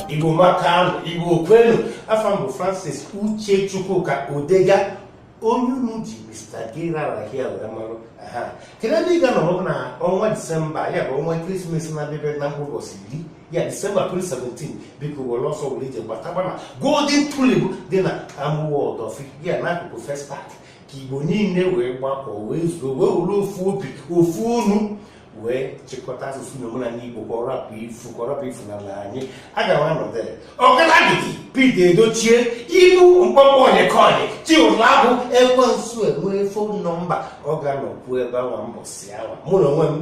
igbo maka nụ igbo kwenu afa m bụ francis uche chukwuka odega onye unu ji mr gerarahia wee marụ aha kedu ebe ị ga-anọrọ na ọnwa december ya bụ ọnwa christmas na-abịa na mbọsị iri ya december 2017 biko were ọsọ were ije gbataba na golden tulip dị na amuwo odofin ya n'akụkụ festac ka igbo niile wee gbakọ wee zuo wee were ofu obi ofu ọnụ wee chịkọta asụsụ na omenala Igbo ka ọ rapụ ifu ka ọ rapụ ifu n'ala anyị aga m anọ there Ọgadagidi Pete Edochie inu mkpọmkpọ onyekọnyị Chiwetalu Agu ekwensu enwee phone number ọ ga-anọkwu ebe awa mbọsị awa mụ na onwe m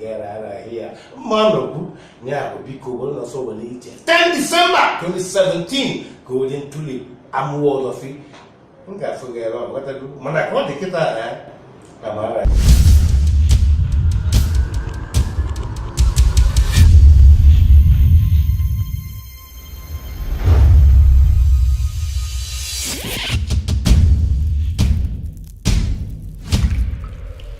Gerarahia mma anọkwu ya bụ biko werenụ ọsọ were ije 10 December 2017 Golden Tulip Amuwo Odofin m ga-afụ gị ebe ahụ ghọtago mana ka ọ dị kịta amara